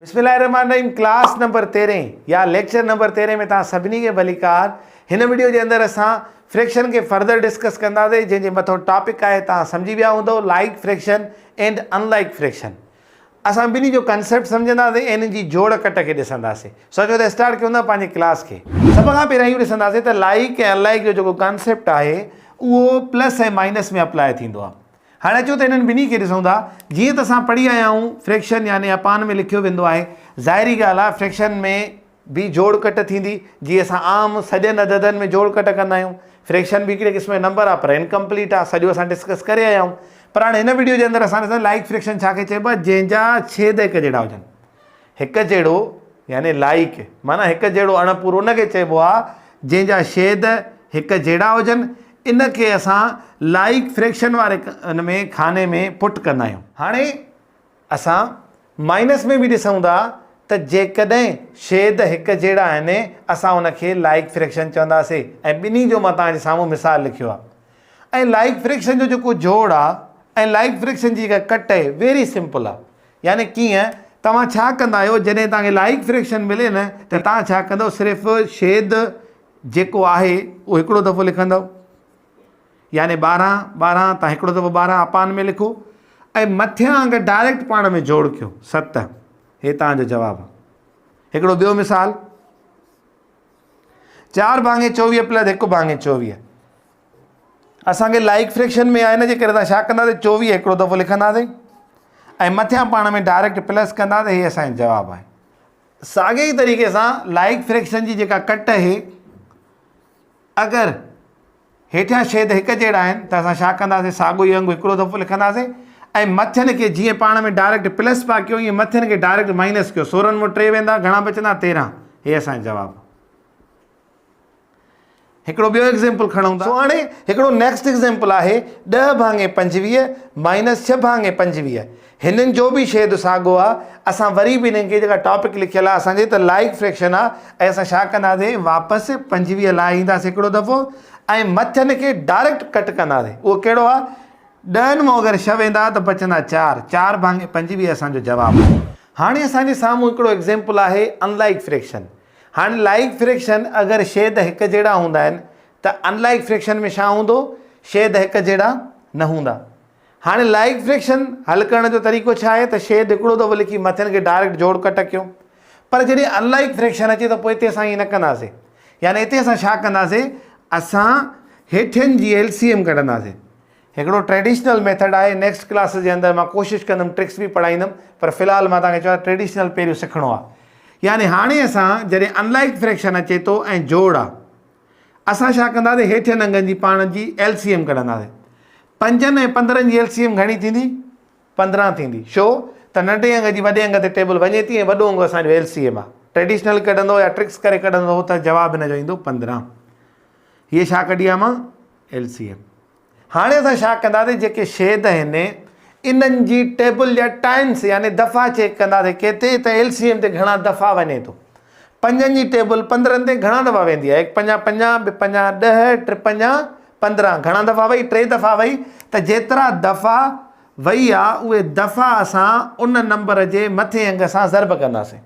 بسم الله الرحمن الرحيم ڪلاس نمبر تيرهين يا ليڪچر نمبر تيرهين ۾ توهان سڀني کي ڀليڪار هن وڊيو جي اندر اسان فريڪشن کي فردر ڊسڪس ڪنداسي جنهن جي مٿو ٽاپڪ آهي توهان سمجهي ويا هوندو like fraction and unlike fraction اسان ٻنهي جو ڪنسيپٽ سمجهنداسي ۽ ان جي جوڙ ڪٽ کي ڏسنداسي سو اچو ته اسٽارٽ ڪيون ٿا پنهنجي ڪلاس کي سڀ کان پهريان اهو ڏسنداسي ته لائيڪ ۽ ان لائيڪ جو جيڪو ڪنسيپٽ آهي اهو پلس ۽ مائنس ۾ اپلاء ٿيندو آهي هاڻي اچو ته انهن ٻنهي کي ڏسون ٿا. جيئن ته اسان پڙهي آيا آهيون، فريڪشن يعني اپان ۾ لکيو ويندو آهي. ظاهري ڳالهه آهي فريڪشن ۾ به جوڙ ڪٽ ٿيندي، جيئن اسان عام سڄن عددن ۾ جوڙ ڪٽ ڪندا آهيون. فريڪشن به هڪڙي قسم جو نمبر آهي پر انڪمپليٽ آهي، سڄو اسان ڊسڪس ڪري آيا آهيون. پر هاڻي هن وڊيو جي اندر اسان ڏسندا لائيڪ فريڪشن ڇا کي چئبو آهي، جنهن جا ڇيد هڪجهڙا هجن. هڪ جهڙو يعني Like معنيٰ هڪ جهڙو اڻ پورو ان کي چئبو آهي جنهن جا شيد هڪ جهڙا هجن ان کي اسان Like فريڪشن واري ان ۾ خاني ۾ Put ڪندا آهيون. هاڻي اسان مائنس ۾ به ڏسون ٿا ته جيڪڏهن شيد هڪ جهڙا آهن اسان ان کي Like فريڪشن چونداسي ۽ ٻنهي جو مان توهان جي سامهون مثال لکيو آهي ۽ Like فريڪشن جو جيڪو جوڙ آهي ۽ Like فريڪشن جي جيڪا ڪٽ آهي Very Simple آهي يعني ڪيئن؟ توهان ڇا ڪندا آهيو جڏهن توهان کي لائق فريڪشن ملي نه ته توهان ڇا ڪندؤ صرف شيد جيڪو آهي اهو هڪڙو دفعو لکندؤ يعني ٻارهن ٻارهن توهان هڪڙو دفعو ٻارهن اپان ۾ لکو ۽ مٿيان اگر ڊائريڪٽ پاڻ ۾ جوڙ ڪيو ست هي توهان جو جواب آهي هڪڙو ٻيو مثال چار ڀاڱي چوويهه پلس هڪ ڀاڱي چوويهه اسان کي لائيڪ فريڪشن ۾ آهي انجي ڪري اسان ڇا ڪنداسين چوويهه هڪڙو دفعو لکنداسين ۽ مٿيان پاڻ ۾ ڊائريڪٽ پلس ڪنداسين هي اسانجو جواب آهي ساڳي ئي طريقي سان لائيڪ فريڪشن جي جيڪا ڪٽ آهي اگر هيٺيان شيد هڪ جهڙا آهن ته اسان ڇا ڪنداسين ساڳو ئي انگ هڪڙو دفعو لکنداسين ۽ مٿين کي جيئن پاڻ ۾ ڊائريڪٽ پلس پا ڪيو ائين مٿين کي ڊائريڪٽ مائنس ڪيو سورن مون ٽي ويندا گهڻا بچندا تيرهن هي اسانجو جواب هڪڙو ٻيو ايگزيمپل کڻون ٿا هاڻي هڪڙو نيڪسٽ ايگزيمپل آهي ڏهه ڀاڱي پنجويهه مائنس ڇهه ڀاڱي پنجويهه هنن جو به شيد ساڳو آهي اسان وري به هنن کي جيڪا ٽاپڪ لکيل آهي اسان جي ته لائق فريڪشن آهي ۽ اسان ڇا ڪنداسين واپس پنجويهه لاء اينداسين هڪڙو دفعو ۽ مٿ هن کي ڊائريڪٽ ڪٽ ڪنداسين اهو ڪهڙو آهي ڏهن مون اگر شھ ويندا ته بچندا چار چار ڀاڱي پنجويهه اسان جو جواب آهي هاڻي اسان جي سامهون هڪڙو ايگزيمپل آهي ان لائڪ فريڪشن هاڻي لائيڪ فريڪشن اگر شيد هڪ جهڙا هوندا آهن ته ان لائيڪ فريڪشن ۾ ڇا هوندو؟ شيد هڪ جهڙا نه هوندا. هاڻي لائيڪ فريڪشن حل ڪرڻ جو طريقو ڇا آهي ته شيد هڪڙو دفعو لکي مٿين کي ڊائريڪٽ جوڙ ڪٽ ڪيون. پر جڏهن ان لائيڪ فريڪشن اچي ته پوء اتي اسان ائين نه ڪنداسين. يعني اتي اسان ڇا ڪنداسين؟ اسان هيٺين جي ايل سي ايم ڪڍنداسين. هڪڙو ٽريڊيشنل ميٿڊ آهي نيڪسٽ ڪلاسز جي اندر مان ڪوشش ڪندم ٽرڪس به پڙهائيندم پر في الحال مان توهان کي چوان ٽريڊيشنل پهريون سکڻو آهي يعني هاڻي اسان جڏهن انلائڪ فريڪشن اچي ٿو ۽ جوڙ آهي اسان ڇا ڪنداسي هيٺين انگن جي پاڻ جي ايل سي ايم ڪڍنداسي پنجن ۽ پندرهن جي ايل سي ايم گهڻي ٿيندي پندرهن ٿيندي شو ته ننڍي انگ جي وڏي انگ تي ٽيبل وڃي ٿي ۽ وڏو انگ اسانجو ايل سي ايم آهي ٽريڊيشنل ڪڍندو يا ٽرڪس ڪري ڪڍندو ته جواب هن جو ايندو پندرهن هيء ڇا ڪڍي آهي مان ايل سي ايم هاڻي اسان ڇا ڪنداسين جيڪي شيد آهن انهن جي ٽيبل جا ٽائمس يعني دفعا چيڪ ڪنداسين ڪيتي ته ايل سي ايم تي گهڻا دفعا وڃي ٿو پنجن جي ٽيبل پندرهن تي گهڻا دفعا ويندي آهي هڪ پنجا پنجا به پنجا ڏه ٽي پنجا پندرهن گهڻا دفعا وئي ٽي دفعا وئي ته جيترا دفعا وئي آ اهي دفعا اسان ان نمبر جي مٿين انگ سان ضرب ڪنداسين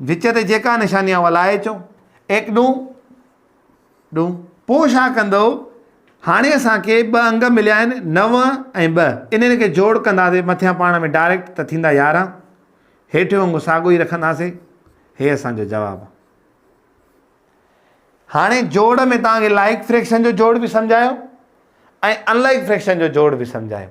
وچ تي جيڪا نشاني آهي اها لائي اچو. ايڪ ڏون ڏون. پوء ڇا ڪندؤ؟ هاڻي اسان کي ٻه انگ مليا آهن نو ۽ ٻه. انهن کي جوڙ ڪنداسين مٿيان پاڻ ۾ ڊائريڪٽ ته ٿيندا يارهن. هيٺيون انگ ساڳيو ئي رکنداسين. هي اسان جو جواب آهي. هاڻي جوڙ ۾ توهان کي لائيڪ فريڪشن جو جوڙ به سمجهايو ۽ ان لائيڪ فريڪشن جو جوڙ به سمجهايو.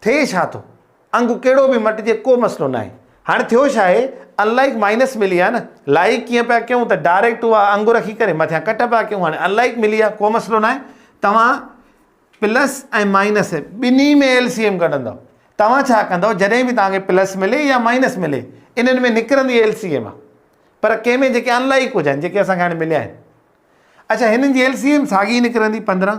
ٿئي ڇا ٿو؟ انگ ڪهڙو به مٽجي ڪو مسئلو ناهي. هاڻي ٿيو ڇا آهي؟ Unlike مائنس ملي آهي نه. Like ڪيئن پيا ڪيون ته ڊائريڪٽ اها انگ رکي ڪري مٿيان ڪٽ پيا ڪيون. هاڻي Unlike ملي آهي ڪو مسئلو ناهي. توهان پلس ۽ مائنس ٻنهي ۾ ايل سي ايم ڪڍندؤ. توهان ڇا ڪندؤ جڏهن به توهان کي پلس ملي يا مائنس ملي انهن ۾ نڪرندي ايل سي ايم آهي. پر ڪنهن ۾ جيڪي Unlike هجن جيڪي اسان کي هاڻي مليا آهن. اڇا هنن جي ايل سي ايم ساڳي نڪرندي پندرهن.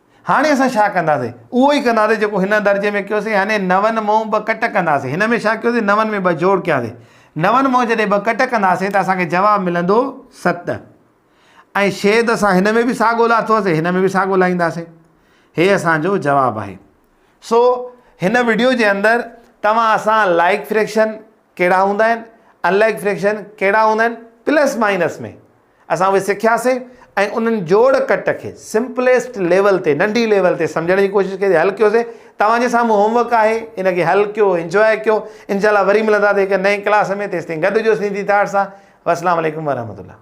هاڻي اسان ڇا ڪنداسين؟ اهو ئي ڪنداسين جيڪو هن درجي ۾ ڪيوسين يعني نون مون ٻه ڪٽ ڪنداسين. هن ۾ ڇا ڪيوسين؟ نون ۾ ٻه جوڙ ڪياسين. نون مون جڏهن ٻه ڪٽ ڪنداسين ته اسان کي جواب ملندو ست. ۽ شيد اسان هن ۾ به ساڳو لاٿوسين هن ۾ به ساڳو لائينداسين. هي اسان جو جواب آهي. سو هن وڊيو جي اندر توهان اسان لائڪ فريڪشن ڪهڙا هوندا آهن، ان لائڪ فريڪشن ڪهڙا هوندا آهن، پلس مائنس ۾ اسان اهي سکياسين ۽ انهن جوڙ ڪٽ کي سمپليسٽ ليول تي ننڍي ليول تي سمجهڻ جي ڪوشش ڪئي حل ڪيوسين توهان جي سامهون هوم ورڪ آهي ان کي حل ڪيو انجواء ڪيو انشاء الله وري ملنداسين هڪ نئين ڪلاس ۾ تيستائين گڏ هجو سنڌي ٿاٽ سان والسلام عليڪم ورحمة الله